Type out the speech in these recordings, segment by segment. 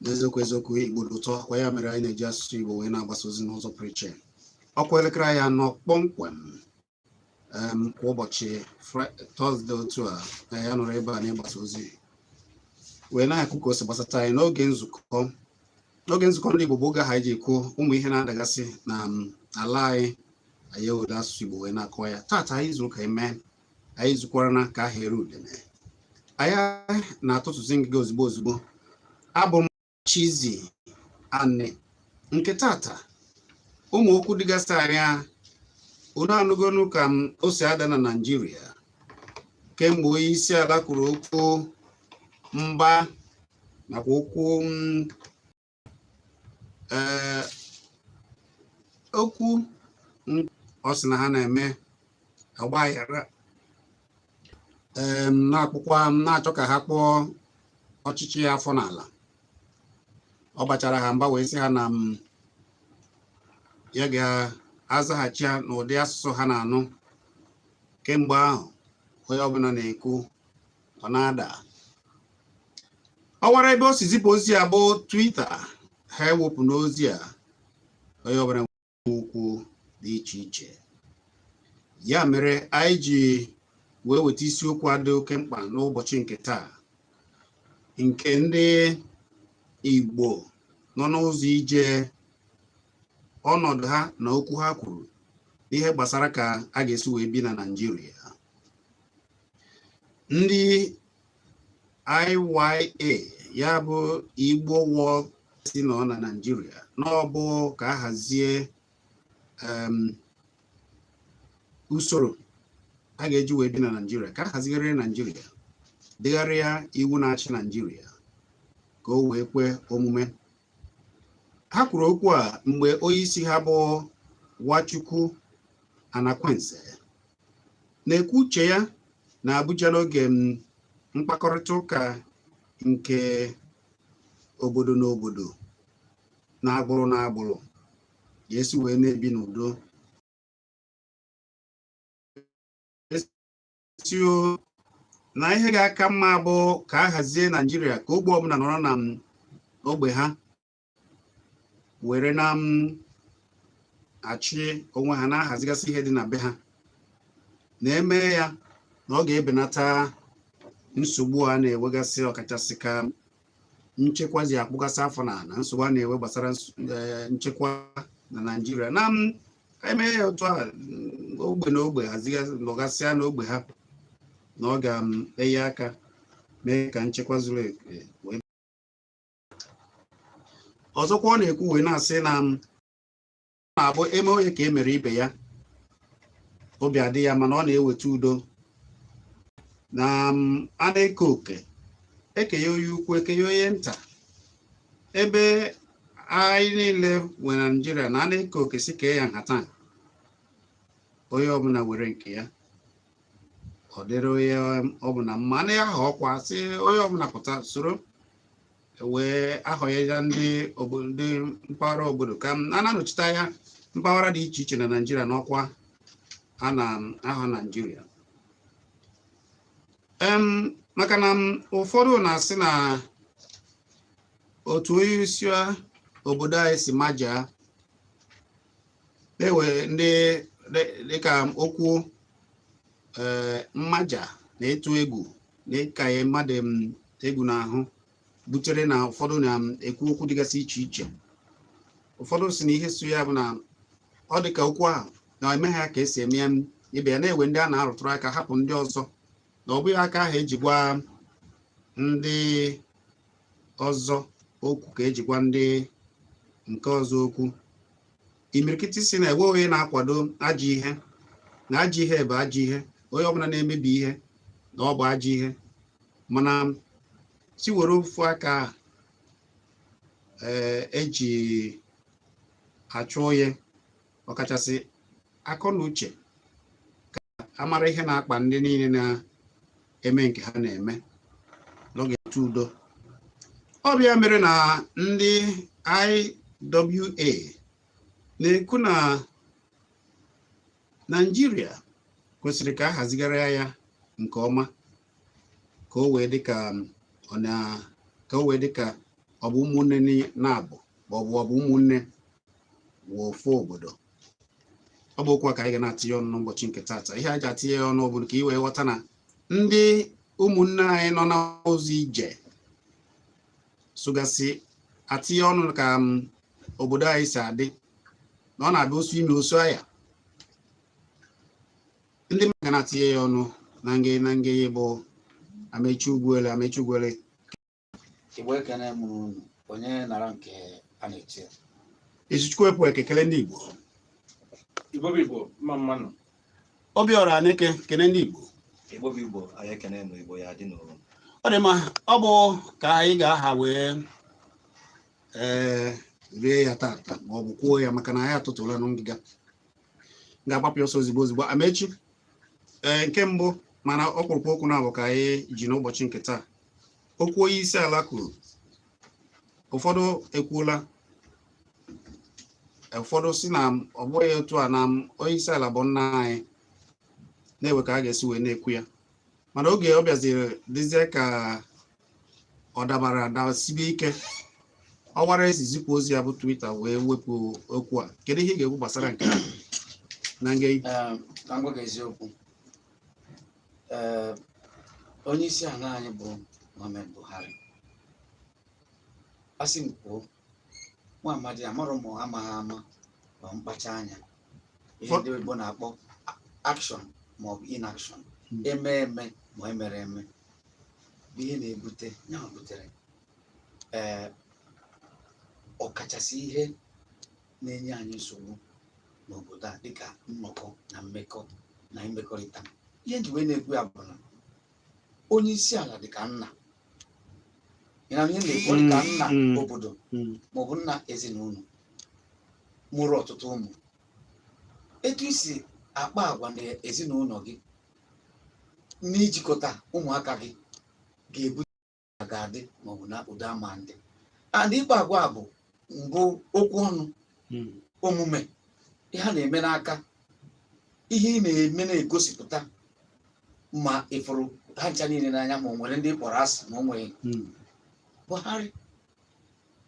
n'eziokwu eziokwu igbo dị ụtọ kwa ya mere anyị na-eji asụsụ igbo wee na-agbasa ozi n'ụzọ pụrụ iche ọkwa elekere anyị anọ kpọmkwem em, kwa ụbọchị Fri- tọzde otu a na ya nọrọ ebe a n'ịgbasa ozi wee na-ekwu ka o si gbasata anyị n'oge nzukọ n'oge nzukọ ndị igbo bụ oge ha ji ekwu ụmụ ihe na-adagasị na um, ala anyị anyị ewere asụsụ igbo wee na-akọ ya taata anyị zuru ka eme anyị zukwara na ka ahịa ere udene anyị na-atụtụzi ngịga ozugbo ozugbo abụ m Chizzy Ani nke taata ụmụ okwu dịgasị anya unu anụgonu ka m o si ada na Naịjirịa kemgbe onye isi ala kwuru okwu mba nakwa okwu mm, ee okwu ọ sị na ha na-eme ọgbaghara ee na-akpụkwa na-achọ ka ha kpọọ ọchịchị ya afọ n'ala ọ bachara ha mba wee sị ha na ya ga-azaghachi ha n'ụdị asụsụ ha na-anụ kemgbe ahụ onye ọbụla na-ekwu ọ na-ada ọwara ebe o si zipụ ozi a bụ twita ha ewepụna ozi a onye ọbụla okwu dị iche iche ya mere anyị ji wee weta isiokwu a dị oke mkpa n'ụbọchị nke taa nke ndị Igbo nọ n'ụzọ ije ọnọdụ ha na okwu ha kwuru n'ihe gbasara ka a ga-esi wee bi na Naịjirịa ndị IWA ya bụ Igbo World sị nọ na Naịjirịa na ọ bụ ka a hazie usoro a ga-eji wee bi na Naịjirịa ka a hazigharịa Naịjirịa degharịa iwu na-achị Naịjirịa ka o wee kwe omume ha kwuru okwu a mgbe onye isi ha bụ Nwachukwu Anakwenze na-ekwu uche ya na Abuja n'oge mkpakọrịta ụka nke obodo na obodo na agbụrụ na agbụrụ ga-esi wee na-ebi n'udo ee sị na ihe ga-aka mma bụ ka a hazie Naịjirịa ka ogbe ọbụla nọrọ na ogbe ha were na m achị onwe ha na-ahazigasị ihe dị na be ha na-eme ya na ọ ga-ebenata nsogbu a na-enwegasị ọkachasị ka nchekwa ji akpụgasị afọ n'ana nsogbu a na-enwe gbasara eh, nchekwa na Naịjirịa na m eme ya otu a ogbe na ogbe nọgasịa n'ogbe ha na ọ ga-enye aka mee ka nchekwa zuru ezu ọzọkwa ọ na-ekwu wee na-asị na m na-abụ eme onye ka e mere ibe ya obi adị ya mma na ọ na-eweta udo na m a na-eke oke ekenye onye ukwu ekenye onye nta ebe anyị niile nwe Naịjirịa na a na-eke oke sị kee ya nhata onye ọbụla were nke ya ọ dịrị onye ọbụla mma na ya ahọ ọkwa sị onye ọbụla pụta soro wee ahọnye ya ndị ndị mpaghara obodo ka a na-anọchite anya mpaghara dị iche iche na naijiria n'ọkwa a na-ahọ naijiria maka na ụfọdụ na-asị na otu onye isi obodo anyị si majaa na enwere ndị dịka okwu eh, mmaja na ịtụ egwu na ịkanye mmadụ mm, egwu n'ahụ butere na ụfọdụ na-ekwu mm, okwu dịgasị iche iche ụfọdụ sị na ihe so ya bụ na ọ dị ka okwu ahụ na emeghị ya ka esi eme ibe ya na enwe ndị a na-arụtụrụ aka hapụ ndị ọzọ na ọ bụghị aka ahụ eji gwa ndị ọzọ okwu ka eji gwa ndị nke ọzọ okwu imirikiti sị na enwe onye na-akwado ajọ ihe na ajọ ihe bụ ajọ ihe onye ọbụla na-emebi ihe na ọ bụ ajọ ihe mana sị were ofu aka eji eh, e achụ onye ọkachasị akọ na uche amara ihe na-akpa ndị niile na-eme nke ha na-eme n'oge ntụ udo ọ bụ ya mere na ndị IWA na-ekwu na Naịjirịa kwesịrị ka a hazigharịa ya nke ọma ka o wee dịka ka o wee dịka ọ bụ ụmụnne na-abụ ma ọ bụ ọ bụ ụmụnne nwe ofu obodo ọ bụ okwu a ka anyị ga na-atinye ọnụ n'ụbọchị nke taata ihe a ji atinye ya ọnụ obodo ka ị wee ghọta na ndị ụmụnne anyị nọ n'ụzọ ije sogasị atinye ọnụ ka um, obodo anyị si adị na ọ na-abụ osu imi osu anya ndị mmadụ ga na-atinye ya ọnụ na nge na nge bụ amechi ugwuele amechi ugwuele Igbo ekene m onye nara nke a na-eche Izuchukwu ekwe ekekele ndị Igbo Igbo bụ Igbo mma mma nụ Obiọra Aneke kene ndị Igbo Igbo bụ Igbo anyị ekene m Igbo ya dị n'ụlọ ọ dị mma ọ bụ ka anyị ga-aha wee ee eh, rie ya tata ma ọ bụ kwuo ya maka na anyị atụtụla na ngịga ga-agbapụ ọsọ ozigbo ozigbo amechi ee eh, nke mbụ mana ọkpụrụkpụ okwu naabọ ka anyị ji n'ụbọchị nke taa okwu onye isi ala kwuru ụfọdụ ekwuola ụfọdụ sị na ọ bụghị otu a na onye isi ala bụ nna anyị na e nwe ka a ga-esi wee na-ekwu ya mana oge ọ bịaziri dịzie ka ọ dabara dasibe ike ọwara e si ezipụ ozi a bụ Twitter wee wepụ okwu a kedu ihe ị ga-ekwu gbasara nke a na nge ehm, eziokwu ee onye isi ala anyị bụ Muhammad Buhari asị m kwuo nwa amadi amarọ m amaghị ama ma mkpacha anya ihe ndị oyibo na-akpọ action ma ọ bụ inaction hmm. eme eme ma emere eme bụ ihe na-ebute ya butere ee ọkachasị ihe na-enye anyị nsogbu n'obodo a dịka nnọkọ na mmekọ na imekọrịta ihe m ji wee na-ekwu ya bụ na onye isi ala dịka nna ị ma ihe m na-ekwu dịka mm, nna mm. obodo Mm. maọbụ nna ezinụlọ mụrụ ọtụtụ ụmụ etu i si akpa agwa n'ezinụlọ gị na ijikọta ụmụaka gị ga-ebute ga-adị maọbụ na udo ama adị and ịkpa agwa a bụ mbụ okwu ọnụ hmm. omume ihe a na-eme n'aka ihe ị na-eme na-egosipụta ma ị fụrụ ha ncha niile n'anya ma o nwere ndị ị kpọrọ asị ma o nwere hmm. Buhari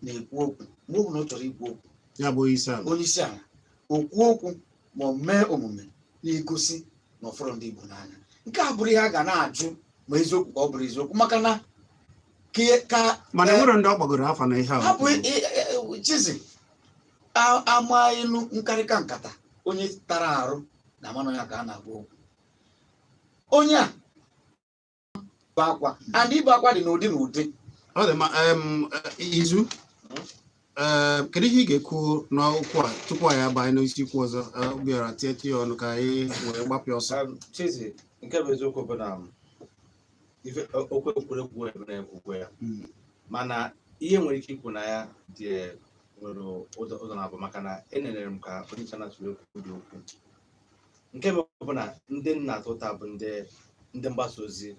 na-ekwu okwu mgbe ọ bụla ọ chọrọ ikwu okwu ya bụ onye isi ala onye isi ala o kwuo okwu ma ọ mee omume na-egosi na ọ fụrọ ndị Igbo n'anya nke a bụrụ ihe a ga na-ajụ ma eziokwu ka ọ bụrọ eziokwu maka na ke- ka mana eh, enwerọ ndị ọ bagoro afa na ihe a hapụ i- i- i- Chizzy a- a maa ilu nkarịka nkata onye tara arụ na-ama na ọ ya ka a na-agwa okwu onye a bụ akwa and ibe akwa dị n'ụdị n'ụdị ọ dị ma em, eh, Izu eh, kedu ihe ị ga-ekwu n'okwu a tupu anyị abanye n'isi okwu ọzọ eh, Obiọra tietụ ya ọnụ ka anyị wee gbapịa ọsọ Um, Chizzy, nke bụ eziokwu bụ na um, ife o- okwu e kwuru ekwu emere ekwukwe ya Mm. mana ihe m nwere ike ikwu na ya dị nwere ụzọ ụzọ naabọ maka na enenere m ka onye nche na-atụle okwu dị okwu nke m bụ na ndị m na-ata ụta bụ ndị ndị mgbasa ozi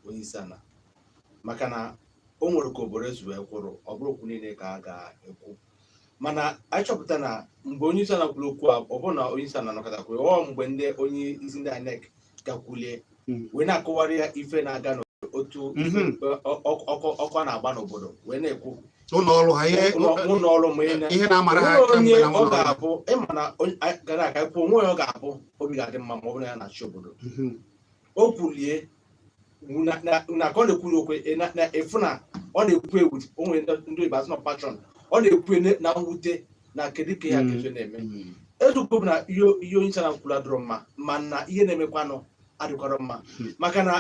onye isi ala maka na o nwere ka obodo esi wee kwụrụ ọ bụrọ okwu niile ka a ga-ekwu mana anyị chọpụta na mgbe onye isi ala kwuru okwu a ọ bụrọ na onye isi ala nọkata kwuru ọ mgbe ndị onye isi ndị INEC gakwulie Mm. wee na-akọwara ya ife na-aga n'otu Mhm. ọkụ na-agba n'obodo wee na-ekwu ụlọ ọrụ ha ihe ụlọ- ụlọ ọrụ ma ị na- ihe na-amara ha o nwere onye kamgbe na ọ ụlọ ọrụ. ga-abụ ịma na onye- anyị gara aga kwuo onwe ya ọ ga-abụ obi ga-adị mma ma ọ bụrụ na ya na-achị obodo Mhm. o kwulie na- na na ka ọ na-ekwuru okwu ị na- na-afụ na ọ na-ekwu ewu onwe ndị ndị oyibo asị na passion ọ na-ekwu na mwute na kedu ka ya mm. ga-esi na-eme mm. eziokwu bụ na ihe onye isi ana kwuru adịrọ mma mana ihe na-emekwanụ adịkwarọ mma hmm. maka na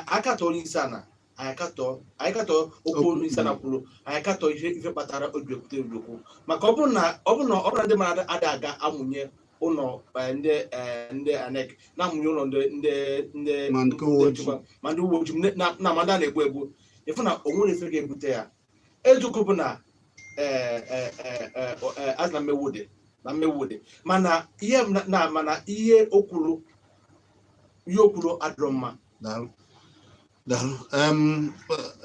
a katọ onye isi ana anyị katọ okwu onye isi ana kwuru anyị katọ ihe ife kpatara o ji ekwute eziokwu maka ọ bụrụ na ọ bụrụ na ọ bụrụ ndị mmadụ adị aga amụnye ụlọ eh, ndị eh, ndị INEC na-amụnye ụlọ ndị ndị ndị ma ndị uwe ojii na ma ndị a na-egbu egbu ị fụ na o nwere ife ga-ebute ya eziokwu bụ na eh, eh, eh, eh, eh, a sị na mmegbu dị na mmegbu dị mana ihe m na- na mana ihe o kwuru ihe o kwuru adịrọ mma daalụ daalụ Em,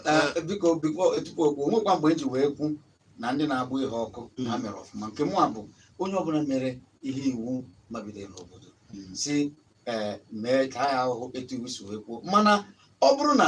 Eh, biko biko tupu okwu o nwekwa mgbe m ji wee kwuo na ndị na-agba ihe ọkụ na ha mere ọfụma nke mụwa bụ onye ọbụla mere ihe iwu mabidoro n'obodo si ee mee ta ya ahụhụ etu iwu si wee kwuo mana ọ bụrụ na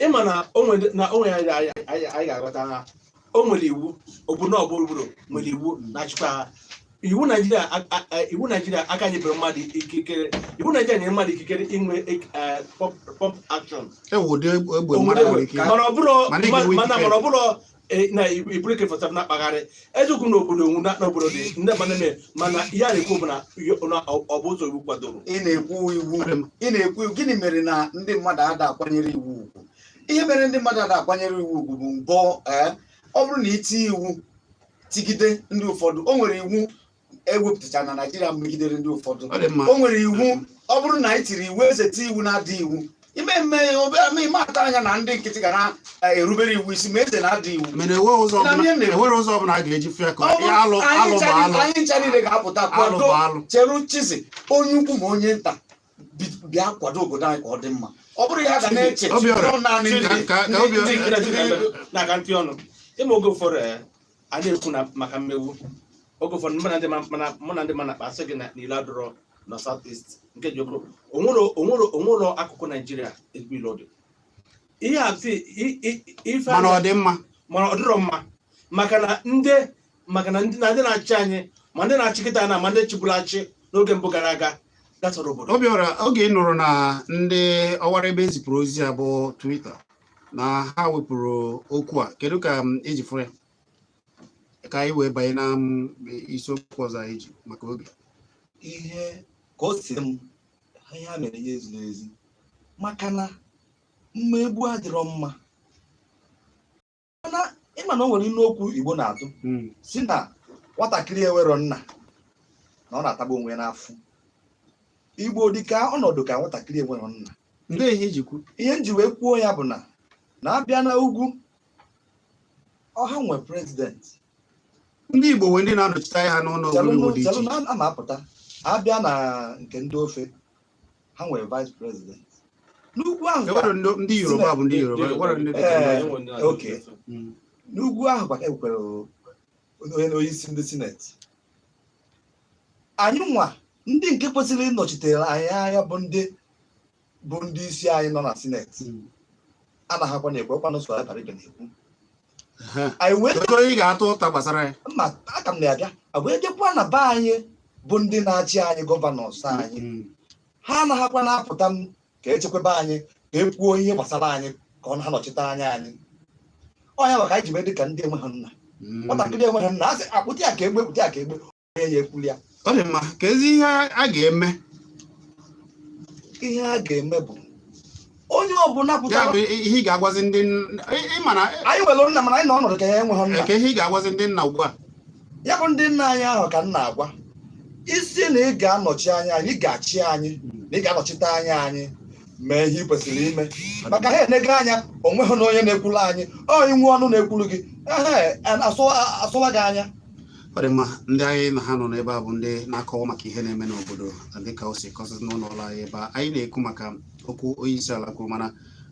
ịma na o nwere na o nwere anyị anyị- anyị anyị ga-aghọta ha o nwere iwu obodo ọbụla obodo nwere iwu na-achịkwa ha iwu naijiria a- a- a- iwu naijiria aka nyebere mmadụ ikikere iwu naijiria nyere mmadụ ikikere inwe ik- eh, pump- pump action e nwe ụdị egbe egbe mmadụ nwere ike mana ọ bụrụ Mana ị ga-enwe mana ikike. mana ọ bụrụ e, na i buru AK-47 na-akpagharị eziokwu na obodo onwu na n'obodo dị ndị mmadụ na-eme mana ihe a na-ekwu bụ na yo- na ọ ọ bụ ụzọ iwu kwadoro ị na-ekwu iwu ị na-ekwu iwu gịnị mere na ndị mmadụ ada akwanyere iwu ugwu ihe mere ndị mmadụ ada akwanyere iwu ugwu bụ mgbe ee ọ bụrụ na i tie iwu tigide ndị ụfọdụ o nwere iwu e wepụtachara na naijiria megidere ndị ụfọdụ ọ dị mma o nwere iwu ọ bụrụ na anyị tiri iwu eze tie iwu na-ada iwu ime mme obere ị ma atụ anya na ndị nkịtị ga na-erubere iwu isi ma eze na-ada iwu mana enwere ụzọ Na ọbụla ihe mere. enwere ụzọ ọbụla a ga-eji fịa ka Ọ bụrụ- alụ anyị alụ ncha bụ niile- alụ anyị ncha niile ga-apụta alụ kwado bụ alụ chere chizi onye ukwu ma onye nta bi- bịa kwado obodo anyị ka ọ dị mma ọ bụrụ ya ga na-eche Obiọra, ọ naanị Chizi, ndị- ka- ka ndị- Obiọra- ndị nkịtị na-aka ntị ọnụ ị ma oge ụfọdụ eh, a na-ekwu na maka mmegbu oge ụfọdụ mụ na ndị ma- mana mụ na ndị ma na-akpa asị gị na n'ile adọrọ na south east nke ji okwu onwere onwere onwere akụkụ naijiria ezigbo ile ọ dị ihe a si i- i- ife a mana na- ọ dị mma mana ọ dịrọ mma maka na ndị maka na ndị na ndị na-achị anyị ma ndị na-achị kịta na ma ndị chịburu achị n'oge mbụ gara aga gatọrọ obodo Obiọra oge ị nụrụ na ndị ọwara ebe e zipụrụ ozi a bụ twitter na ha wepụrụ okwu a kedu ka um, i ji fụ ya ka anyị wee banye na um, isiokwu ọzọ anyị ji maka oge ihe ka o si m ihe a mere ya eziri ezi maka na mmegbu adịrọ mma mana ị ma na o nwere ilu okwu Igbo na-atụ hmm. si na nwatakịrị enwero nna na ọ na-atagbu onwe ya n'afụfụ Igbo dị ka ọnọdụ ka nwatakịrị enwero nna ndị ihe m ji kwu ihe m ji wee kwuo ya bụ na na a bịa na ugwu ọ ha nwe prezidenti ndị Igbo nwee ndị na-anọchite anya ha n'ụlọ ogologo dị iche a na-apụta a bịa na nke ndị ofe ha nwere vice president n'ugwu ahụ ndị Yoruba bụ ndị Yoruba n'ugwu ahụ kwa e nwere onye na onye isi ndị sineti anyị nwa ndị nke kwesịrị ịnọchitere anyị anya bụ ndị bụ ndị isi anyị nọ na sineti hmm. anaghịkwa na-ekwu ọ kwanụ so Abaribe na-ekwu anyị ga-atụ ụta gbasara ya mma aka m na-abịa wee jekwa na be anyị bụ ndị na-achị anyị gọvanọs hmm. anyị ha anaghịkwa na-apụta m ka echekwaba anyị ka e kwuo ihe gbasara anyị ka ọ ha nọchite anya anyị ọ nya maka anyị ji wee dị ka ndị enweghị nna hmm. nwatakịrị enweghị nna a sị a kpụta ya ka e gbue kpụta ya ka e gbue onye ekwuli ya ọ dị mma kezi ihe a ga-eme ihe a ga-eme bụ onye ọbụla ya pụtara bụ ihe ị ga-agwazi ndị nna- ị- ị ma na anyị nwere nna mana anyị nọ ọnọdụ ka anyị enweghị nna kee ihe ị ga-agwazi ndị nna ugbu a ya bụ ndị nna anyị ahụ ka m na-agwa sị na ị ga-anọchi anya anyị ị ga-achị anyị na ị ga-anọchite anya anyị mee ihe ị kwesịrị ime maka ha enego anya o nweghị onye na-ekwulu anyị ọ i nwe ọnụ na-ekwulu gị ehe, a- a sọwa a sọwa gị anya ọ dị mma ndị anyị na ha nọ n'ebe a bụ ndị na-akọwa maka ihe na-eme n'obodo dịka o si kọsịsị n'ụlọ ọrụ anyị ebe anyị na-ekwu maka okwu onye isi ala kwuru mana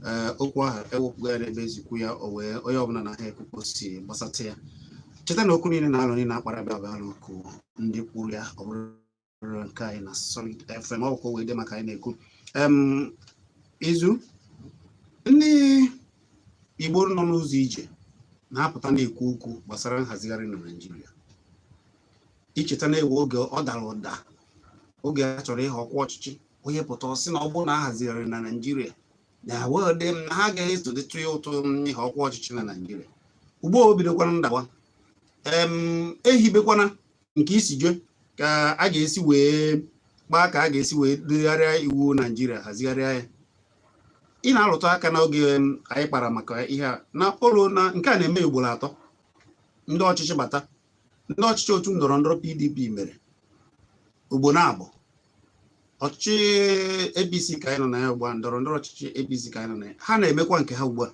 eh, okwu ahụ ewepụgo ya n'ebe e zipụ ya o wee onye ọbụla na ha ekwukwo si gbasata ya cheta na okwu niile na alo niile a kpara ebe a bụ ọnụ okwu ndị kwuru ya ọ bụrụ nke anyị na Solid FM ọ bụkwa wee dị maka anyị na-ekwu izu ndị Igbo nọ n'ụzọ ije na-apụta na-ekwu okwu gbasara nhazigharị na Naịjirịa i cheta na e nwere oge ọ dara ụda oge a chọrọ ịhọ ọkwa ọchịchị onye pụta ọ sị na ọ bụrụ na a hazigharị na Naịjirịa na wede m na ha ga-esodetụ ya ụtụ ịhọ ọkwa ọchịchị na Naịjirịa ugbu a o bidokwara ndawa ehibekwara nke isi jee ka a ga-esi wee kpaa ka a ga-esi wee degharịa iwu naijiria hazigharịa ya ị na-arụtụ aka n'oge anyị kpara maka ihe a na ụlọ na nke a na-eme ugboro atọ ndị ọchịchị bata ndị ọchịchị otu ndọrọ ndọrọ pdp mere ugboro abụọ ọchịchị apc ka anyị nọ na ya ugbu a ndọrọ ndọrọ ọchịchị apc ka anyị nọ na ya ha na-emekwa nke ha ugbu a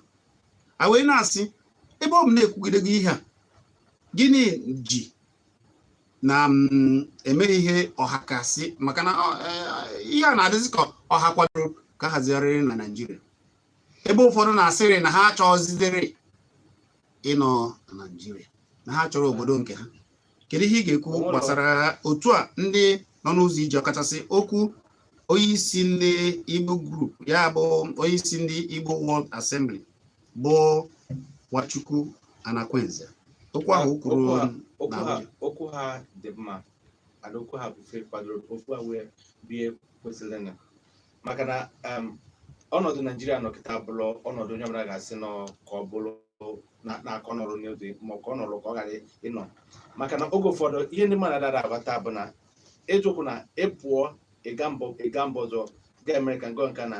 a wee na-asị ebe ọ bụ na e kwugidego ihe a gịnị ji na mm, emeghị ihe ọkachasị maka na e, ihe a na-adịzi ka ọha kwadoro ka a hazigharịrị na Naịjirịa ebe ụfọdụ na-asịrị na ha achọghịzịdịrị ịnọ na Naịjirịa na ha chọrọ obodo nke ha kedu ihe ị ga-ekwu gbasara otu a ndị nọ n'ụzọ ije ọkachasị okwu onyeisi ndị Igbo group ya bụ onyeisi ndị Igbo World Assembly bụ Nwachukwu Anakwenze okwu ha kwuru okwu ha dị mma mana okwu ha bụ kwadoro okwu ha wee bụ ihe kwesịrị na maka na um, ọnọdụ naijiria nọ kịta bụrụ ọnọdụ onye ọbụla ga-asị nọ ka ọ bụrụ na-akọ nọrọ n'oge ma ọ ka ọ nọrọ ka ọ ghara ịnọ maka na oge ụfọdụ ihe ndị mmadụ dara aghọta bụ na eziokwu na ịpụọ ịga mbọ ịga mba ọzọ ga America nke na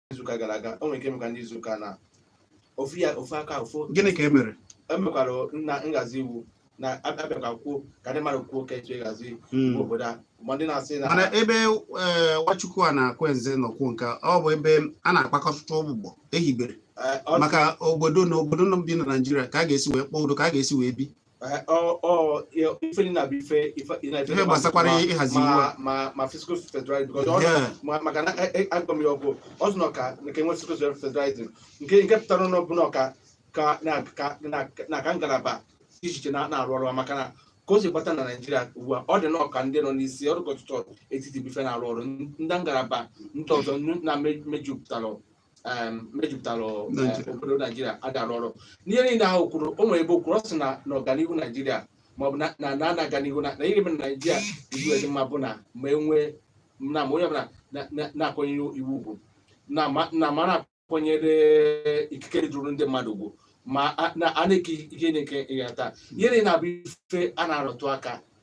izuụka gara aga o nwere nke emekwa n'izuụka na ofu ya ofu aka ofu gịnị ka e mere emekwara na nhazi iwu na abịakwa kwuo ka ndị mmadụ kwuo ka etu ịhazi iwu obodo a ma ndị na-asị na mana ebe eh, nwachukwu anakwenze nọ kwuo nke a, ọ bụ ebe a na-akpakọta ụgbụgbọ ehibere eh, ọ- maka obodo na obodo nọ bi na naijiria ka a ga-esi wee kpọọ udo ka a ga-esi wee bi ife niine a bụ ife ife gbasakwara ịhazi iwu ma fiscal federalism maka na agba m ya ọgwụ ọ sị na ọ ka nke enwe fiscal federalism nke nke pụtara na ọ bụ na ka ka na ka ngalaba dị iche iche na-arụ ọrụ maka na ka o si gbata na naijiria ugbu a ọ dị nnọọ ka ndị nọ n'isi ọrụ gọọmentị etiti bụ ife na-arụ ọrụ ndị ngalaba ndị ọzọ na-mejupụtara mejupụtara eh, obodo naijiria ada arụ ọrụ n'ihe niile ahụ o kwuru o nwere ebe o kwuru ọ sị na na ọganihu naijiria maọbụ na na na-aga n'ihu na ihe mere naijiria iwu dị mma bụ na ma enwee na ma onye ọbụla na-akwanyere iwu ugwu na ma na-akwanyere ikike dịrị ndị mmadụ ugwu ma a na-eke ihe na-eke ịhata ihe niile a bụ ife a na-arụtụ aka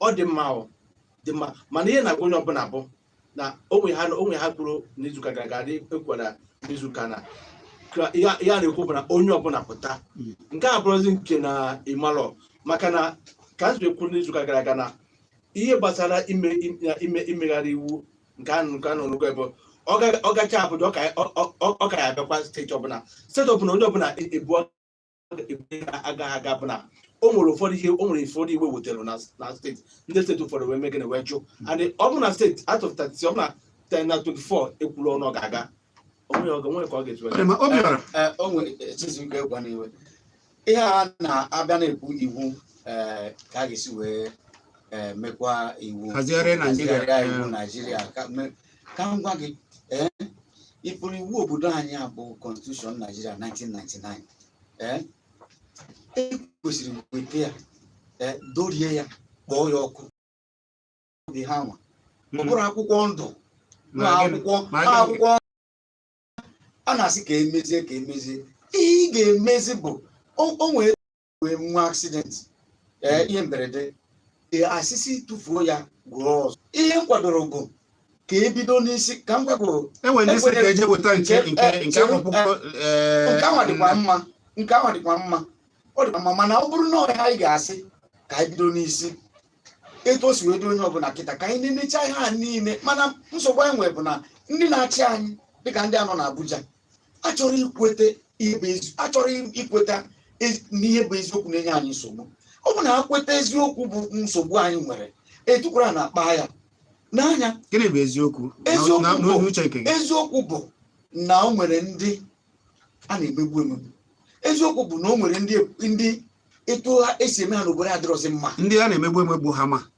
ọ dị mma ọ dị mma mana ihe na-agwa onye ọbụla bụ na o nwe ihe a o nwe ihe a kwuru n'izuụka gara aga dị ekwukwara n'izuụka a na ka ihe a- ihe a na-ekwu bụ na onye ọbụla pụta Mm. nke a bụrụzi nke na ị malọ maka na ka nzube kwuru n'izuụka gara aga na ihe gbasara ime ime- ime imegharị iwu nke a nke a n'ọnụgụ ebe ọ ga- ọ gacha abụja ọ ka- ọ- ọ- ọ ka ya abịakwa steeti ọbụla steeti ọbụla onye ọbụla ebu agaghị aga bụ na o nwere ụfọdụ ihe o nwere ụfọdụ iwu e wetara na na steeti ndị steeti ụfọdụ wee megana wee jụ and ọ bụ na steeti out of 30 ọ bụ na 10 na 24 ekwuru ọnụ ọ ga-aga o nwere ọ ga- nwere ka ọ ga-etu Ee, ma Obiọra Ee, o nwere echizu nke ịgwa n'iwe ihe a na-abịa na-ekwu iwu ee, ka a ga-esi wee ee, mekwa iwu Hazigharịa Naijiria. hazigharịa iwu naijiria ka me- ka m gwa gị ee ị fụrụ iwu obodo anyị a bụ constitution Nigeria 1999 ee e kwesịrị weta ya ee dọrie ya kpọọ ya ọkụ dị ha nwa ọ bụrụ akwụkwọ ndụ na Ma gịnị- akwụkwọ ma na gịnị- akwụkwọ a na-asị ka emezie ka emezie ihe ị ga-emezi bụ o o nwere nwee nwa accident ee ihe mberede ee a sị sị tụfuo ya goro ọzọ ihe m kwadoro bụ ka ebido n'isi ka m gwagoro enwere ndị sị ka eje weta nke Ekwere- nke nke chere- akwụkwọ eh, nke ahụ dịkwa mma nke ahụ dịkwa mma ọ dịkwa mma mana ọ bụrụ na ọ ha anyị ga-asị ka anyị bido n'isi etu o si wee dị onye ọbụla kịta ka anyị na-emecha ihe a niile mana nsogbu anyị nwere bụ na ndị na-achị anyị dịka ndị a nọ n'Abuja achọrọ ikweta ihe ezi- achọrọ ikweta ezi- n'ihe bụ eziokwu na-enye anyị nsogbu ọ bụ na ha kweta eziokwu bụ nsogbu anyị nwere etukwara a na-akpa ya n'anya gịnị bụ eziokwu Eziokwu Na- na- bụ- n'uche nke gị eziokwu bụ na o nwere ndị a na-emegbu emegbu eziokwu bụ na o nwere ndị ndị etu ha esi eme ha n'obodo adịrọzi mma ndị a na-emegbu emegbu ha ma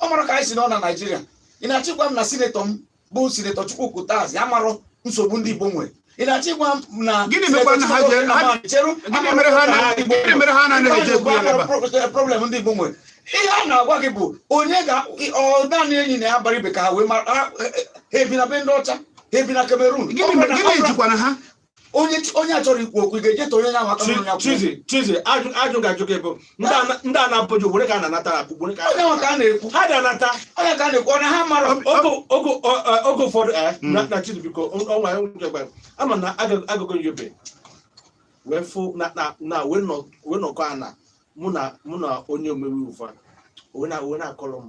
ọ mara ka anyị si nọ na naijiria ị na-achọ ịgwa m na sinetọ m bụ sinetọ Chukwuka Utazi amarọ nsogbu ndị igbo nwere ị na-achọ ịgwa m na Gịnị mekwara na ha ji- Sinetọ Chukwuka Utazi chere gịnị mere ha na- gịnị mere ha anaghị eji ekwu ya n'ebe a? problem ndị igbo nwere ihe a na-agwa gị bụ onye ga ọ naanị Enyinnaya Abaribe ka ha wee mara ha ha ebi na be ndị ọcha ha ebi na Cameroon Gịnị mere- gịnị jikwana ha onye onye achọrọ ikwu okwu ga-eje tọ onye na-amata onye ya chizi chizi ajụjụ m ga-ajụ gị bụ ndị a n'Abuja were ka a na-anata na were ka a na-ekwu ha dị anata onye ka a na-ekwu ọnụ ha mara oge ụfọdụ eh, hmm. na chizi biko ọnwa ya nwụrụ gwara ama na agụgụ yobe wee fụ na wee nọkọ ana mụ na onye omebe iwu wee na-akọrọ m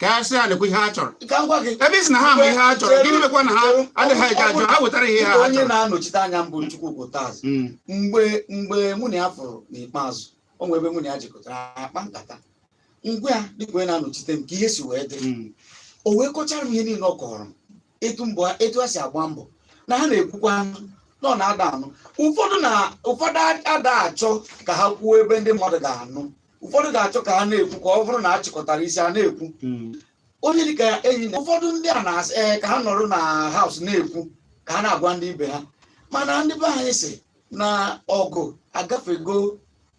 ka ha sị ha nekwa ihe ha chọrọ ka m gwa gị ebe ị sị na ha ma ihe ha chọrọ gịnị mekwa na ha adịghị eji ajụ ha wetara ihe ha onye chọrọ na-anọchite anya m bụ Chukwuka Utazi Mm, mgbe mgbe mụ na ya fụrụ n'ikpeazụ o nwere ebe mụ na ya jikọtara akpa nkata m gwa ya dịka onye na-anọchite m ka ihe si wee dị mm, o wee kọchara m ihe niile ọ kọrọ m etu mbọ etu ha si agba mbọ na ha na-ekwukwanụ na ọ na ada anụ ụfọdụ na ụfọdụ ada achọ ka ha kwuo ebe ndị mmadụ ga-anụ ụfọdụ ga-achọ ka ha na-ekwu ka ọ bụrụ na a chịkọtara isi a na-ekwu Mm. onye dịka Enyinna ụfọdụ ndị a na-asị ee ka ha nọrọ na house na-ekwu ka ha na-agwa ndị ibe ha mana ndị be anyị sị na ọgụ agafego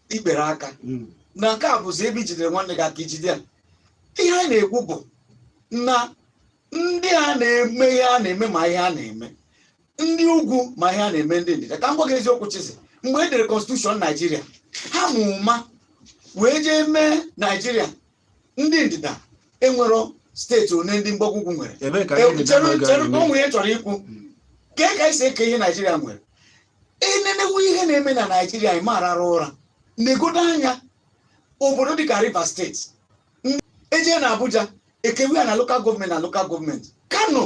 ikpere aka Mm. na nke a bụzi ebe i jidere nwanne gị aka i jide ya ihe anyị na-ekwu bụ na ndị a na-eme ihe a na-eme ma ihe a na-eme ndị ugwu ma ihe a na-eme ndị ndịda ka m gwa gị eziokwu Chizzy mgbe e dere constitution naijiria ha ma ụma wee jee mee naijiria ndị ndịda enwero steeti one ndị mgbago ugwu nwere ebee ka E, ndị chere na-aga chere eme? ka onwe ya chọrọ ikwu ka ka esi eke ihe naijiria nwere e nenewe ihe na-eme na naijiria ị ma arara ụra negodo anya obodo dịka rivers steeti e jee na abuja e kewe ya na lokal gọọmenti na lokal gọọmenti kano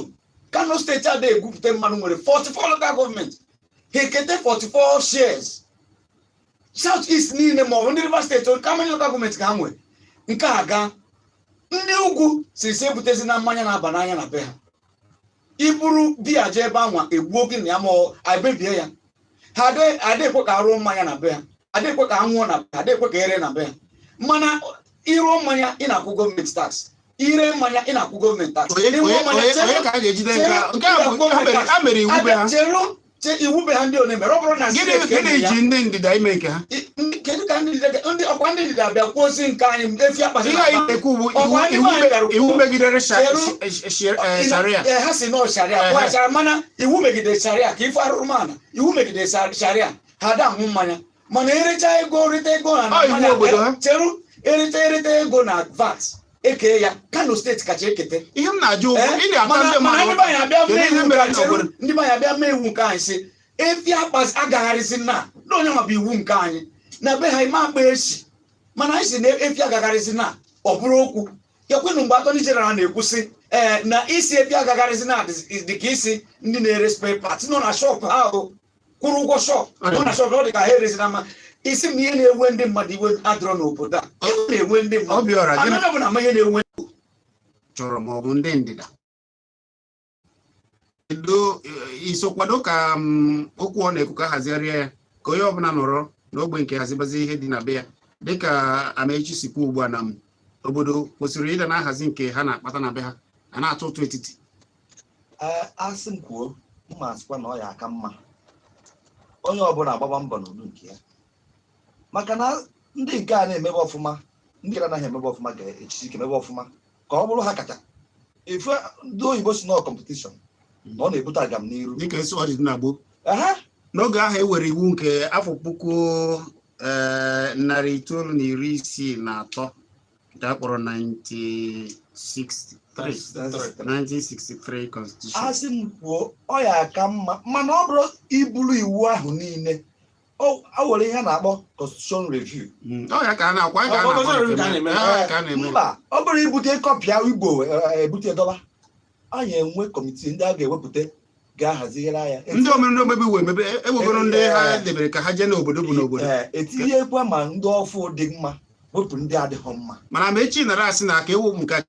kano steeti ada egwupụta mmanụ nwere 44 lokal gọọmenti ha ekete 44 shares south east niile ma ọ bụ ndị rivers steeti how many lokal gọọmenti ka ha nwere nke a gaa ndị ugwu sị sị ebutezina mmanya na-aba n'anya na be ha i buru biya jee ebe anwa egbuo gị na ya ma ọ ebebie ya ha adị- adịghị ekwe ka a rụọ mmanya na be ha adịghị ekwe ka a nwụọ na be ha adịghị ekwe ka e ree na be ha mana ị rụọ mmanya ị na-akwụ gọọmenti tax i ree mmanya ị na-akwụ gọọmenti tax onye Ịṅụọ onye- mmanya, onye- chere- onye ka a ga-ejide nke a? nke a bụ nke a mere- a mere iwu be ha chere che iwu be ha ndị one mere ọ bụrụ na gịnị steeti ka e gịnị mere ya, ji ndị ndịda ime nke ha i- ndị- kedu ka ndị ndịda- ndị ọkwa ndị ndịda bịa kwuozi nke anyị efi akpasị ihe anyị na-ekwu bụ iwu- Ọkwa ndị iwu nwaanyị me- bịara iwu kwuo. megidere sha- Chere- sh- sh- sh- eh, sharia Ee, ha sị na ọ sharia Ehe. pụọ sharia mana iwu megidere sharia ka ife arụrụ mana iwu megidere sa- sharia ha ada aṅụ mmanya mana erecha ego rite ego na Ọ iwu obodo ha. cheru erite erite ego na VAT ekee ya kano steeti kacha ekete ihe m na-ajụ ụgwọ Eh, ị na-ata mana ndị mana ndị mmadụ be anyị abịa Kedu mee ihe iwu mere ka na chere obodo? ndị be anyị abịa mee iwu nke anyị sị efi akpaz- agagharịzina na onye nwabụ iwu nke anyị na be ha ị ma akpa ezi mana anyị sị na efi agagharịzina ọ bụrụ okwu ee kwanụ mgbe Attorney General na-ekwu sị ee na ịsị efi agagharịzina dị- dị ka ịsị ndị na-ere spare parts nọ na shọpụ ha o kwụrụ ụgwọ shop nọ na shop na ọ dị ka ha erezi na mma ị sị m na ihe na-ewe ndị mmadụ iwe adịrọ n'obodo a ihe na-ewe ndị mmadụ Obiọra gịnị anọ bụ na ama ihe na-ewe chọrọ ma ọ bụ ndị ndịda kedu eh, iso kwado ka mm, okwu ọ na-ekwu ka a hazigharịa ya ka onye ọbụla nọrọ n'ogbe nke hazibazi ihe dị na be ya dịka Amaechi si kwuo ugbu a na m obodo kwesịrị ịda na-ahazi nke ha na-akpata na be ha a na-atụ ụtụ etiti ee asị m kwuo m ma asịkwa na ọ ya aka mma onye ọbụla agbaba mbọ n'ụdị nke ya maka na ndị nke a na-emebe ọfụma ndị na-anaghị emebe ọfụma ga-ejisi ike emebe ọfụma ka ọ bụrụ ha kacha ife ndị oyibo sị na ọ competition na ọ na-ebute agam n'iru dịka esi ọ dị na gboo ehe n'oge ahụ e were iwu nke afọ puku eh, narị itoolu na iri isii na atọ nke a kpọrọ 1963 constitution asị m kwuo ọ ya aka mma mana ọ bụrụ iburu iwu ahụ niile o nwere ihe a na-akpọ constitution review hmm, ọ ya ka a na-akwa ka a na-akwa mba ọ bụrụ ibute copy a igbo eh, ebute dọba anyị enwe committee ndị a ga-ewepụta ga-ahazigharị ya ndị omere ndị omebe iwu emebe e- ewegoro ndị ha Eh. debere ka ha jee n'obodo bụ n'obodo Ee, etinyekwa ma ndị ọfụ dị mma wepụ ndị adịghị mma mana ma echi nara asị na ka ewu m ka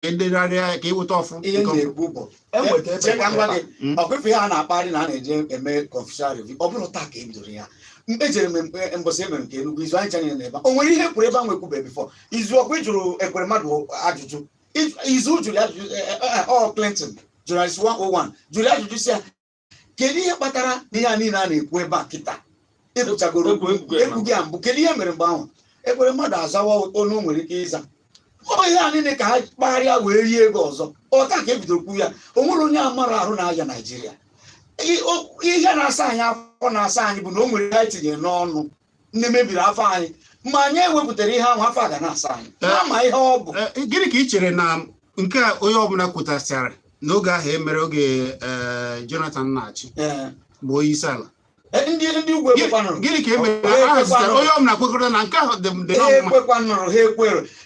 edegharịa ka eweta ọfụ ihe m nke ọfụ. na-ekwu bụ enweta ebe Chee ka m gwa gị, Mm. ọ kwefe ihe a na-akparị na a na-eje eme constitutional review ọ bụrụ taa ka e bidoro ya ejere m mgbe- mbọsị emere nke Enugu Izu anyị chanyere n'ebe a. o nwere ihe kwuru ebe a nwekwube before Izu ọkwa ị jụrụ Ekweremadu ajụjụ If- Izu jụrụ ya ajụjụ eh, eh, eh, ọ Clinton Journalist 101 jụrụ ya ajụjụ sị ya kedu ihe kpatara na ihe a niile a na-ekwu ebe a kịta ịpụchagoro Egwu- egwu- egwu- egwu gị a mbụ kedu ihe mere mgbe ahụ Ekweremadu azawa ọ na o nwere ike ịza ọ ihe a niile ka ha kpagharịa wee rie ego ọzọ ọ taa ka ebido okwu ya o nwere onye amarọ ahụ na-aya Naijiria I- o- ihe na-asa anyị afọ na-asa anyị bụ na o nwere ihe anyị tinyere n'ọnụ nke mebiri afọ anyị ma anyị ewepụtarọ ihe ahụ afọ a ga na-asa anyị Eh. a ma ihe ọ bụ Eh, gịnị ka ị chere na nke a onye ọbụla kwutasịara n'oge ahụ emere oge eh, Jonathan na-achị Eh, bụ onye isi ala eh, ndị ndị ugwu Gịnị- ekwekwanụrọ gịnị ka e mere na ha zụtara onye ọbụla kwekọrọ na nke ahụ dị m dị ha na mma ekwekwanụrọ ha ekwerọ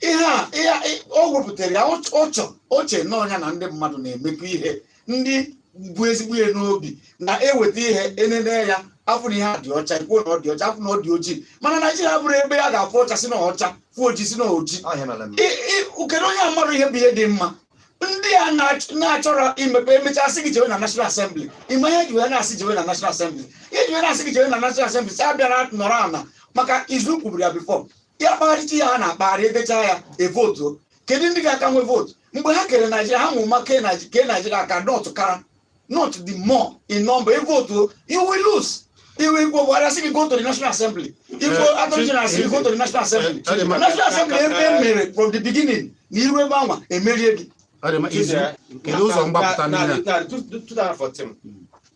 ihe a ihe a- ị- o wepụtara ya ọ- ọ chọ oche nọọ ya na ndị mmadụ na-emekọ ihe ndị bu ezigbo ihe n'obi na-eweta ihe enene ya afụ na ihe a dị ọcha ikwuo na ọ dị ọcha afụ na ọ dị ojii mana Naijiria bụrụ ebe a ga-afụ ọcha sị na ọcha fụ ojii sị na ojii ọ ihe a mere m I- i- kedu onye amarọ ihe bụ ihe dị mma ndị a na-ach- na-achọrọ imepe emechaa sị gị jewe na national assembly ime ihe ji wee na-asị jewe na national assembly ihe ji wee na-asị gị jewe na national assembly sị abịara nọrọ ala maka Izu kwuburu ya before ya kpagharịcha ya ha na-akpagharị edechaa ya evotu kedu ndị ga-aka nwe vootu mgbe ha kere naijiria ha mara ụma kee naijiria ka north ka north the more in number evotu you will lose iwe igbo buhari asị gị go to the national assembly igbo eh, attorney general asị gị go to the national assembly eh, eh, national assembly ebe e mere from the beginning na i ruo ebe anwa emerie gị kedu ụzọ mgbapụta niile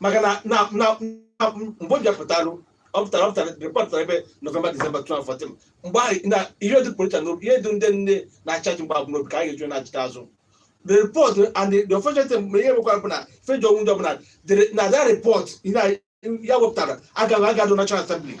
maka na na na na- mgbe ọ bịapụtarụ ọ pụtara ọ pụtara report pụtara ebe november december 2014 mgbe ahụ na ihe dị politician n'obi ihe dị ndị nọ in charge mgbe ahụ n'obi ka anyị ga-eji nachịta azụ the report and the, the unfortunate thing ma ihe mekwara bụ na page one ndị ọbụla dere- na that report ihe a- ya wepụtara agaghị agadụ national assembly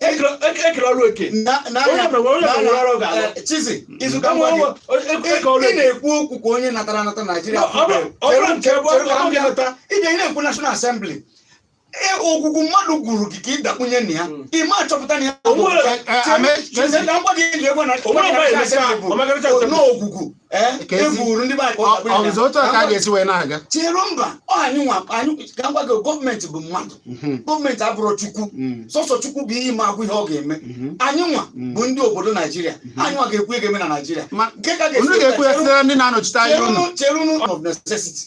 ekele ọrụ eke chizi izuka ị na-ekwu okwu ka onye natara anata naijiria ije ị na-ekwu national assembly ogwugwu mmadụ gwuuru gị ka ị dakpunye na ya ị ma achọpụta na ya na mgbadị enyi egwe na ogwugwu ee Ka ezi- e gwuuru ndị be anyị ka ọ Ọ- ga-abụ ọzọ otu a ka a ga-esi wee na-aga chere mba ọ anyị nwa anyị ka m gwa gị gọọmenti bụ mmadụ Mhm, gọọmenti abụrọ chukwu mhm, sọsọ chukwu bụ ihe ị ma agwa ihe ọ ga-eme mhm. anyị nwa Mm. bụ ndị obodo naijiria anyị nwa ga-ekwu ihe ga-eme na naijiria Ma- nke ka unu ga-ekwu ya site na ndị na-anọchite anya unu cherunu cherunu of necessity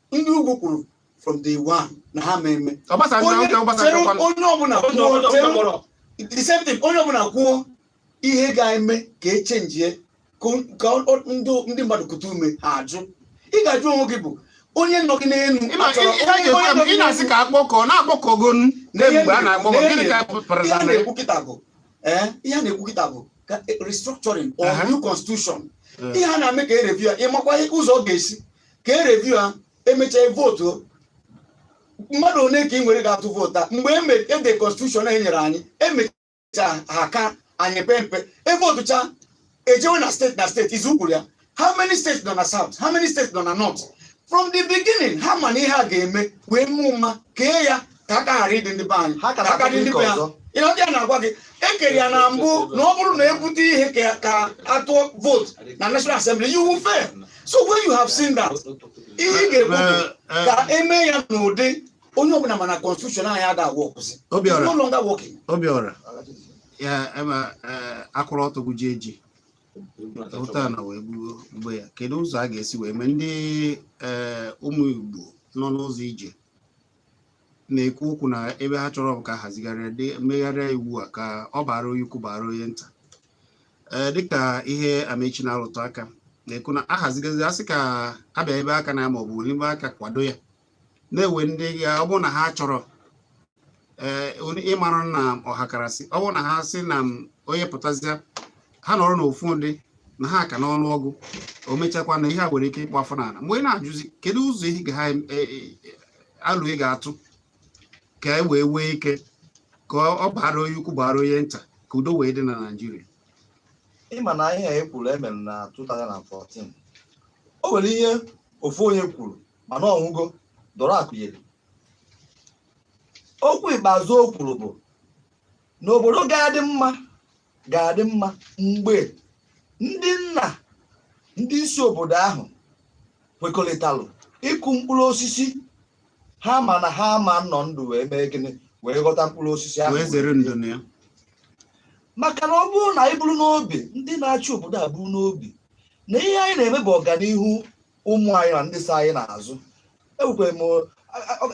ndị ugwu kwuru from day one na ha ma eme onye ọbụla kwuo the same thing onye ọbụla kwuo ihe ga-eme ka echenjie ka ndị mmadụ kuta ume ha ajụ ị ga-ajụ onwe gị bụ onye nọ gị n'elu ị na-asị ka akpọkọ na-akpọkọgo mgbe a na-akpọkọ gịnị ka pụtara ihe a na-ekwu kịta bụ eh, ihe a na-ekwu kịta bụ restructuring or new constitution ihe a na-eme ka e review ya ịmakwa ụzọ ọ ga-esi ka e review ya emechaa vootu mmadụ one ka ị nwere ga-atụ vootu a mgbe ede constitution e nyere anyị emecha ha ka anyị pee mpe evotucha ejewe na steeti na steeti izu kwuru ya how many states nọ na south how many states nọ na north from the beginning ha ma na ihe a ga-eme wee ma ụma kee ya ka aka ghara ịdị ndị be anyị Ha ka ka na-akpata dị ndị ike be ya ọzọ. ihe ndị a na-agwa gị ekere ya na mbụ na ọ bụrụ na ebute ihe ka ka atụọ vootu na national assembly you will fail so when you have seen that ihe ị ga-ekwu bụ Eh, eh, ka eme ya n'ụdị onye ọbụla mana constitution anyị ada workzi Obiora. no longer working obiọra ya ema eh, akwụrụ ọtọ gụji eji ụta na wee gbuo mgbe ya kedu ụzọ a ga-esi wee mee ndị eh, ụmụ igbo nọ n'ụzọ ije na-ekwu okwu na ebe ha chọrọ bụ ka a hazigharịa megharịa iwu a ka ọ baara onye ukwu baara onye nta ee dịka ihe Amechi na-arụtụ aka na-ekwu na ahazigazi asị ka abịa ebe aka na ya maọbụ n'ime aka kwado ya na-ewe ndị ya ọ bụrụ na ha chọrọ ee ịmara na ọhakarasị ọ bụrụ na ha sị na onye pụtazịa ha nọrọ n'ofu ụdị na ha ka n'ọnụ ọgụ o mechakwa na ihe a nwere ike ịkpọ afọ n'ala m wee na-ajụzi kedu ụzọ ihe ga ha e, e, e, alo ị ga-atụ ka e wee nwee ike ka ọ baara onye ukwu baara onye nta ka udo wee dị na Naịjirịa ị ma na ihe e kwuru emere na 2014 o nwere ihe ofu onye kwuru mana ọ nwụgo Dora Akunyili okwu ikpeazụ o kwuru bụ na obodo ga-adị mma ga-adị mma mgbe ndị nna ndị isi obodo ahụ kwekọrịtalụ ịkụ mkpụrụ osisi ha ma na ha ama nọ ndụ wee mee gịnị wee ghọta mkpụrụ osisi ahụ wee zere ndo na ya maka na ọ bụrụ na anyị buru n'obi ndị na-achị obodo a buru n'obi na ihe anyị na-eme bụ ọganihu ụmụ anyị na ndị so anyị n'azụ ekwukwere m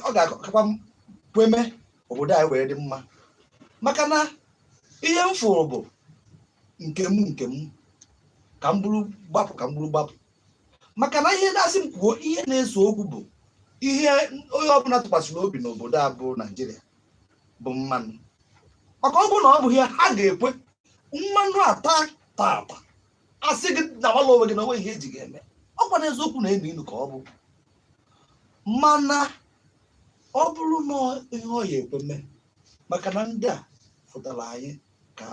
ọ ga-akakwa kwe mee obodo anyị wee dị mma maka na ihe m fụrụ bụ nke m nke m ka m buru gbapụ ka m buru gbapụ maka na ihe na-asị m kwuo ihe na-ese okwu bụ ihe onye ọbụla tụkwasịrị obi n'obodo a bụ naijiria bụ mmanụ maka ọ bụrụ na ọ bụ ihe ha ga-ekwe mmanụ ataa taata a sị gị nawala onwe gị na o nwe ihe e ji gị eme ọ kwa na eziokwu na-enu inu ka ọ bụ mana ọ bụrụ na ihe ọ ya ekwe mee maka na ndị a fụtara anyị ka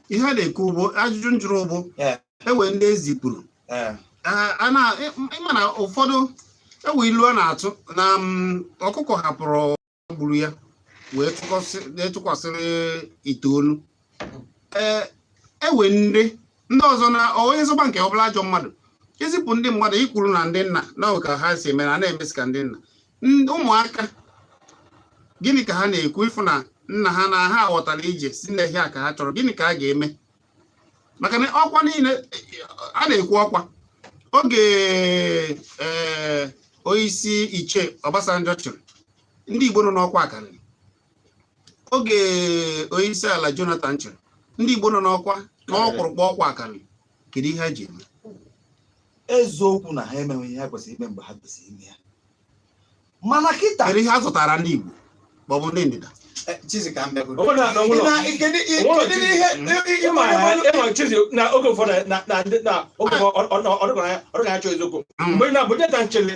ihe a na-ekwu bụ ajụjụ m jụrụ bụ Ee. ewe ndị ezipụrụ ee Ee, a na- ị- ị ma na ụfọdụ ewe ilu a na-atụ na mm, ọkụkọ hapụrụ gburu ya wee tụkwasị- wee tụkwasịrị ite olu ewe e ndị ndị ọzọ na onye zọba nke ọbụla ajọ mmadụ ezipụ ndị mmadụ i kwuru na ndị nna na ka ha si eme na na-emesi ka ndị nna ụmụaka gịnị ka ha na-ekwu ị fụ na nna ha na ha ghọtara ije sị na ihe a ka ha chọrọ gịnị ka a ga-eme maka na ọkwa niile a na-ekwu ọkwa oge ee eh, onyeisi Ichie Obasanjo chịrị ndị Igbo nọ n'ọkwa akarịrị oge onye isi ala Jonathan chịrị ndị Igbo nọ n'ọkwa n'ọkpụrụkpụ ọkwa akarịrị kedu ihe ha ji eme eziokwu na ha emeghị ihe ha kwesịrị ime mgbe ha kwesịrị ime ya mana kịta kedu ihe a zụtara ndị Igbo ma ọ bụ ndị ndịda eh, na oge ụfọdụ na ọdịgara ya chọọ eziokwu mgbe na-abụ nchele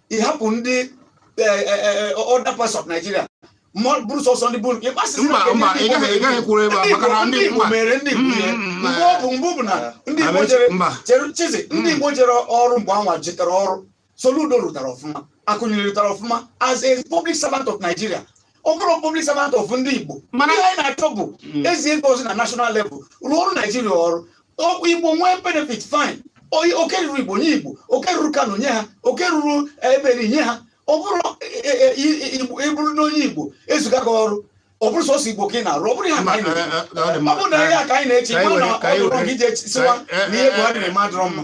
ịhapụ ndị e, e, e, other parts of Nigeria bụrụ sọsọ ndị bụrụ mere ndị Igbo ihe mm, mm, mgbe ọ bụ mbụ bụ na ndị Igbo jere chere chizi ndị mm. Igbo jere ọrụ mgbe anwa jitara ọrụ Soludo rụtara ọfụma Akunyili rụtara ọfụma as a public servant of Nigeria ọ bụrọ public servant of ndị Igbo mana ihe anyị na-achọ bụ hmm. e zie gị ozi na national level rụọ ọrụ Naijiria o ruo Igbo nwee benefit fine oke ruru Igbo nye Igbo oke ruru Kano nye ha oke ruru eh, eberi nye ha ọ bụrọ ị bụrụ eh, eh, onye Igbo e ziga gị ọrụ ọ bụrụ sọsọ Igbo ka ị na-arụ ọ bụrọ ya ka anyị na ọ bụrụ na ya ka anyị na-eche igbo na ọ bụrụ ka ị jee sịwa na ihe Buhari na-eme adịrọ mma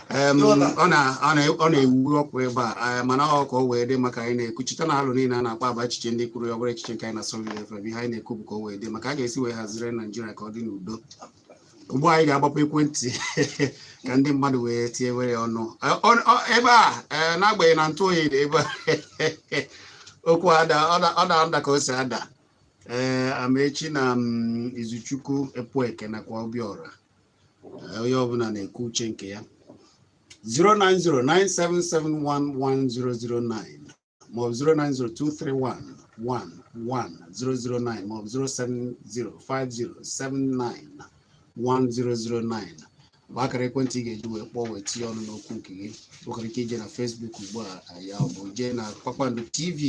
ọ na-enwu ọkụ ebe a eh, mana ọ ka o wee dị mma ka anyị na-ekwu cheta na alo niile a na-akpa ebe a bụ echiche ndị kwuru ya ọ bụrọ echiche nke anyị na Solid FM ihe anyị na-ekwu bụ ka o wee dị mma ka a ga-esi wee hazire Naijiria ka ọ dị n'udo ugbu a anyị ga-agbapụ ekwentị ka ndị mmadụ wee tinye were ọnụ eh, ebe a eh, n'agbanyeghị na ntụ oyi dị ebe a okwu ada ọ na-ada ka o si ada ee Amaechi na mm, Izuchukwu Epueke nakwa Obiora onye ọbụla na-ekwu uche nke ya 09097711009 maọbụ 09023111009 maọbụ 07050791009 bụ akara ekwentị ị ga-eji wee kpọọ wee tinye ọnụ n'okwu nke gị nwekwara ike ije na Facebook ugbu a maọbụ jee na Kpakpando TV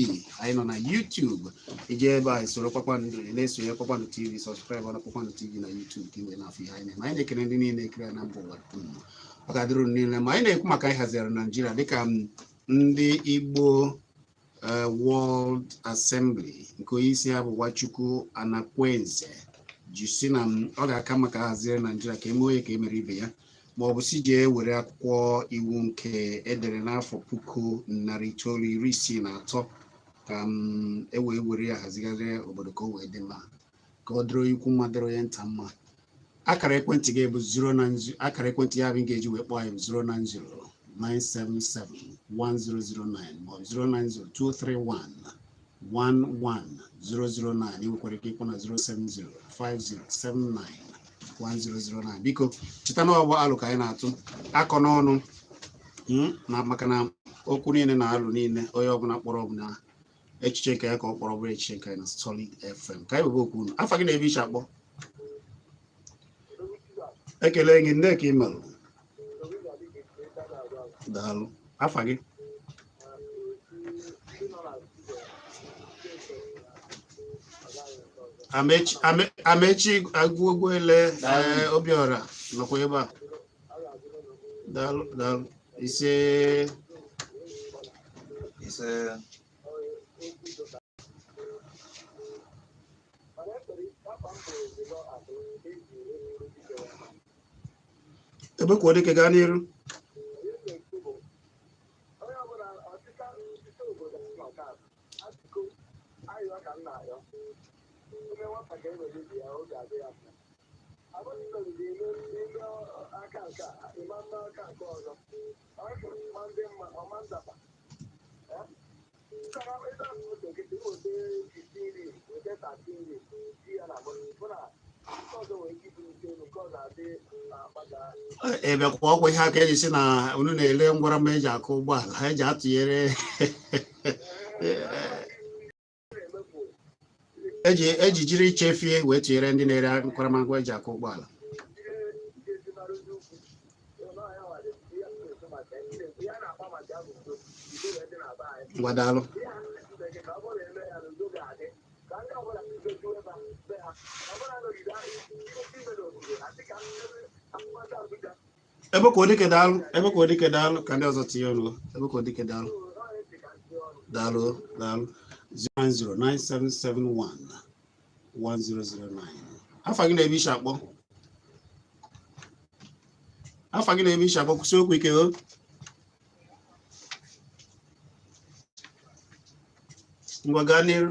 anyị nọ na YouTube ị jee ebe a soro Kpakpando na-esonye Kpakpando TV subscribe na Kpakpando TV na YouTube ka ị wee na-afụ ihe anyị na-eme anyị na-ekele ndị niile na-ekiri na mba ụwa dum ọ ga-adịrụ unu niile mma anyị na-ekwu maka ịhazigharị Naijiria dịka ndị Igbo eh, World Assembly nke onye isi ya bụ Nwachukwu Anakwenze ji sị na m- ọ ga-aka mma ka a hazire Naijiria ka e mee onye ka e mere ibe ya ma ọ bụ sị jee were akwụkwọ iwu nke e dere n'afọ puku narị itoolu iri isii na atọ ka m e wee were ya hazigharịa obodo ka o wee dị mma ka ọ dịrị onye ukwu mma dịrị onye nta mma akara ekwentị gị bụ 090 akara ekwentị ya bụ ị ga-eji wee kpọọ anyị bụ 090-977-11009 maọbụ 090-231-11009 ị nwekwara ike ịkpọ na 070-5079-1009 biko cheta na ọ bụ alo ka anyị na-atụkọ n'ọnụ mm, na maka na okwu niile na alo niile onye ọbụla kpọrọ ọ bụ na echiche nke ya ka ọ kpọrọ ọ bụrọ echiche nke anyị na Solid FM ka anyị webe oku unu afa gị na ebe i si akpọ ekele gị ndị ka ị merụ daalụ afa gị Amaechi Amaechi Ugwuele Obiọra nọkwa ebe a daalụ daalụ ise ise Ebekuodike gaa n'iru Ebekuo ọ kwa ihe a ka eji sị na unu na-ele ngwara mma eji akụ ụgbọala ha eji atụnyere eji eji jiri ichefie wee tinyere ndị na-ere nkwaramagwa eji akụ ụgbọala ngwa daalụ Ebekuodike daalụ Ebekuodike daalụ ka ndị ọzọ tinye ọnụ Ebekuodike daalụ daalụ daalụ 0909771 1009 afa gị na ebe i si akpọ afa gị na ebe i si akpọ kwusie okwu ike o ngwa gaa n'iru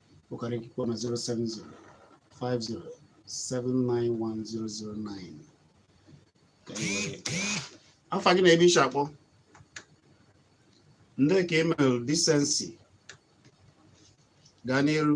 Ukara ikikwa na 070 50 791009 ka anyị were nke a. afa gị na ebe i shi akpọ ndị ka emel Decency gaa n'iru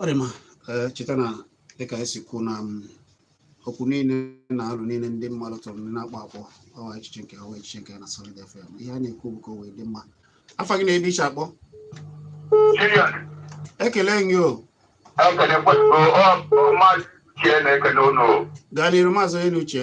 ọ dị mma eh, cheta na dịka e si kwuo na mm, okwu niile na alo niile ndị mmadụ tụrụ ndị na-akpọ akpọ ọ wụ echiche nke ọwa echiche nke na Solid FM ihe a na-ekwu bụ ka o wee dị mma afa gị na ebe i shi akpọ ekele gị o gaa n'iru maazị onye na uche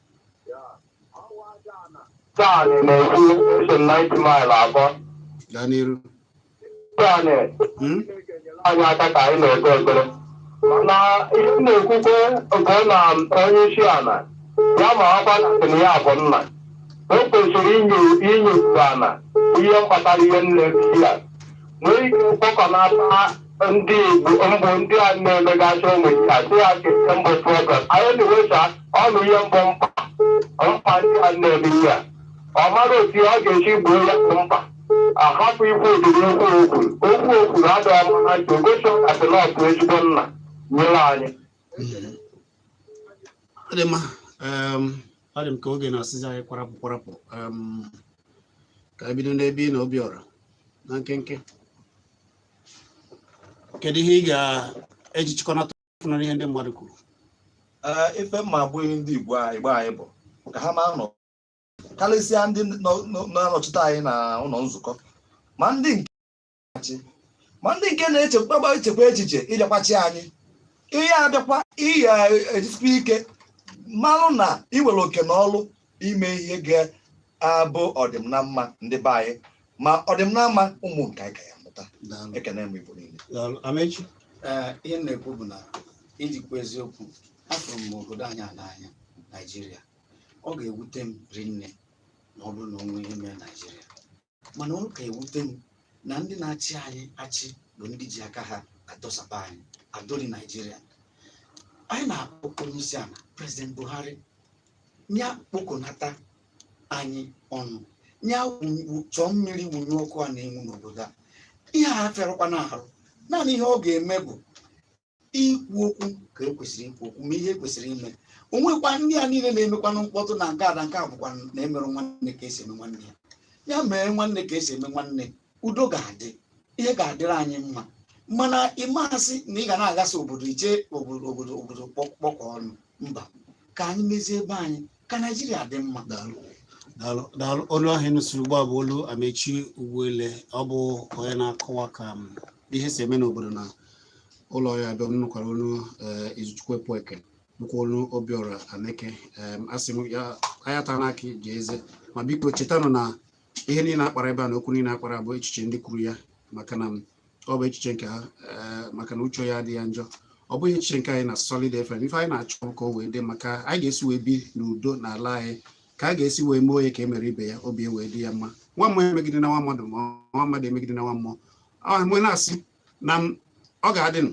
Sani na-ekwu esi m 9th Mile akpọ. gaa n'iru Sani Hmm? anyị aka ka anyị na-ekpe ekpere. Mana ihe m na-ekwukwe bụ na onye isi ala ya ma ọkwa na sị na ya bụ nna. O kwesịrị inyo inyo ala ihe mkpatara ihe nne ya. Nwee ike kpọkọnata ndị Igbo mbụ ndị a na-emegasị ụmụ ya si ya nke mbụ program anyị na-ewesa ọnụ ihe mbụ mkpa mkpa ndị a na-eme ihe a ọ mara otu ọ ga-esi gboo ya bụ mkpa ahapụ ikwu ụdịrị okwu okwuru okwu okwuru adịghị mma na ntị ogosi ọkatịlọpụ ezigbo nna nyere anyị ọ dị mma em, ọ dị m ka oge na-asịzi anyị kwarapụ kwarapụ em, ka anyị bido n'ebe ị nọ Obiọra na nkenke kedu ihe ị ga-eji chịkọnata ọfụnara ihe ndị mmadụ kwuru ife mma abụghị ndị Igbo Igbo anyị bụ ka ha ma na karịsịa ndị na-anọchite anyị na ụlọ nzukọ ma ndị nke achị ma ndị nke na-echekwa echekwa echiche ịbịakwa chị anyị ihe abịakwa ihe ejisikwa ike malụ na i nwere oke na ọlụ ime ihe ga-abụ ọdịm na mma ndị be anyị ma ọdịm na mma ụmụ nke anyị ka ya-amụta Daalụ. ekene m Igbo niile Daalụ. Amechi. Ee, ihe m na-ekwu bụ na iji kwuo eziokwu afụrụ m obodo anyị a n'anya naijiria ọ ga-ewute m rinne ma ọ bụrụ na o nwee ihe mere naijiria mana ọ na-aka ewute m na ndị na-achị anyị achị bụ ndị ji aka ha adọsaba anyị adọri naijiria anyị na-akpọku onye isi ala prezident buhari ya kpokọnata anyị ọnụ ya wụ- chọọ mmiri wụnye ọkụ a na-enwu n'obodo a ihe a afịarọkwanụ ahụ naanị ihe ọ ga-eme bụ ikwu okwu ka ekwesịrị ikwu okwu mee ihe ekwesịrị ime onwekwa ndị a niile na-emekwanụ mkpọtụ na nke ada nke a bụkwa na emerọ nwanne ka esi eme nwanne ya ya mee nwanne ka esi eme nwanne udo ga-adị ihe ga-adịrị anyị mma mana ị ma sị na ị ga na-aghasa obodo iche obodo obodo obodo kpọkọ ọnụ mba ka anyị mezie ebe anyị ka naijiria dị mma daalụ daalụ daalụ olu ahụ ị nụsịrị ugbu a bụ olu amechi ugwuele ọ bụ onye na-akọwa ka em, ihe si eme n'obodo na ụlọ ya abịa nụkwara olu eh, izuchukwu epueke nụkwa olu obiọra aneke Em, asị m ya ayata n'aka ji eze ma biko chetanụ na ihe niile a kpara ebe a na okwu niile a kpara bụ echiche ndị kwuru ya maka na ọ bụ echiche nke ha eh, maka na uche onye adị ya njọ ọ bụghị echiche nke anyị na Solid FM ife anyị na-achọ bụ ka o wee dị mma ka anyị ga-esi wee bi n'udo n'ala anyị ka a ga-esi wee mee onye ka e mere ibe ya obi e wee dị ya mma nwa mmụọ emegidena nwa mmadụ ma nwa mmadụ emegidena nwa mmụọ m wee na-asị na ọ ga-adị nụ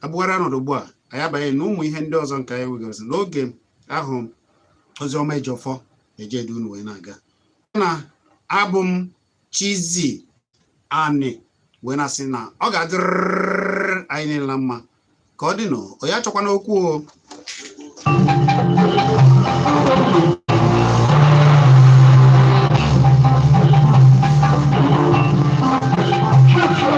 abụgharị ọnọdụ ugbu a anyị abanye na ụmụ ihe ndị ọzọ nke anyị nwegasị n'oge ahụ Oziọma Ejiọfọ eje edu unu wee na-aga na abụ m Chizi Anị wee na-asị na ọ ga-adịrịrị anyị niile na mma ka ọ dịnụ onye achọkwana okwu o